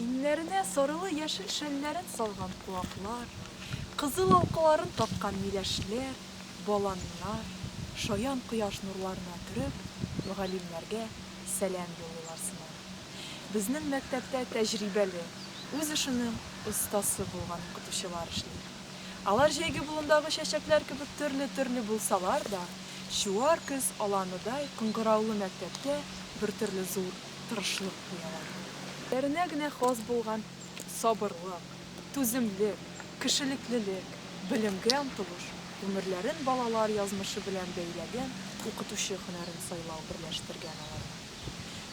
Иңнәренә сарылы-яшел шәлләрен салган куаклар, кызыл алкаларын таккан миләшләр, баланнар, шаян кояш нурларына төреп, мөгаллимнәргә сәлам юллыйлар сыман. Безнең мәктәптә тәҗрибәле, үз эшенең остасы булган укытучылар эшли. Алар җәйге болындагы чәчәкләр кебек төрле-төрле булсалар да, чуар көз аланыдай кыңгыраулы мәктәпкә бертөрле зур. тырышлык куялар. Бәренә генә хас булган сабырлык, түземлек, кешелеклелек, белемгә омтылыш, гомерләрен балалар язмышы белән бәйләгән укытучы һөнәрен сайлау берләштергән аларны.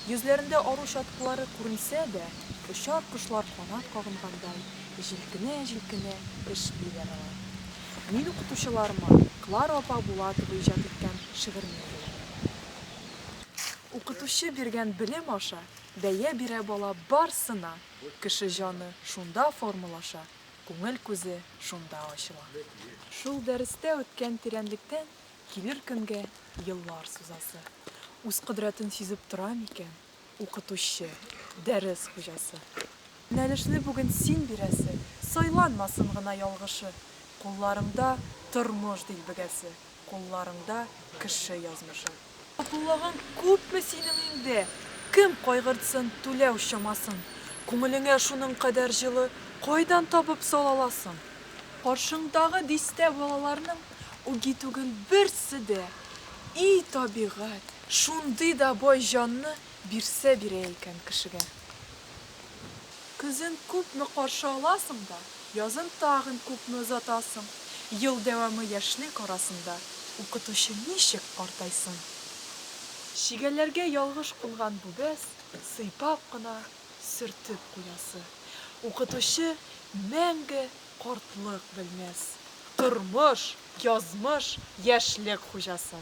Йөзләрендә ару чаткылары күренсә дә, очар кошлар канат кагынгандай җилкенә-җилкенә эшлиләр алар. Мин укытучыларыма Клара апа Булатова иҗат иткән шигырьне әйбәтләдем. Укытучы биргән белем аша бәя бирә бала барсына, кеше җаны шунда формалаша, күңел күзе шунда ачыла. Шул дәрестә үткән тирәнлектән килер көнгә еллар сузасы. Үз кодрәтен сизеп тора микән укытучы, дәрес хуҗасы? Юнәлешне бүген син бирәсе, сайланмасын гына ялгышы, кулларыңда тормыш дилбегәсе. Кулларыңда кеше язмышы. Сатулаган күпме синең инде. Кем кайгыртсын түләү чамасын. Күңелеңә шуның кадәр җылы кайдан табып сала аласың? Каршыңдагы дистә балаларның үги түгел берсе дә. И табигать, шундый да бай җанны бирсә бирә икән кешегә. Көзен күпме каршы аласың да, язын тагын күпме озатасың. Ел дәвамы яшьлек арасында укытучы ничек картайсын? Чигәләргә ялгыш кунган бу бәс, сыйпап кына сөртеп куясы. Укытучы мәңге картлык белмәс. Тормыш, язмыш, яшьлек хуҗасы.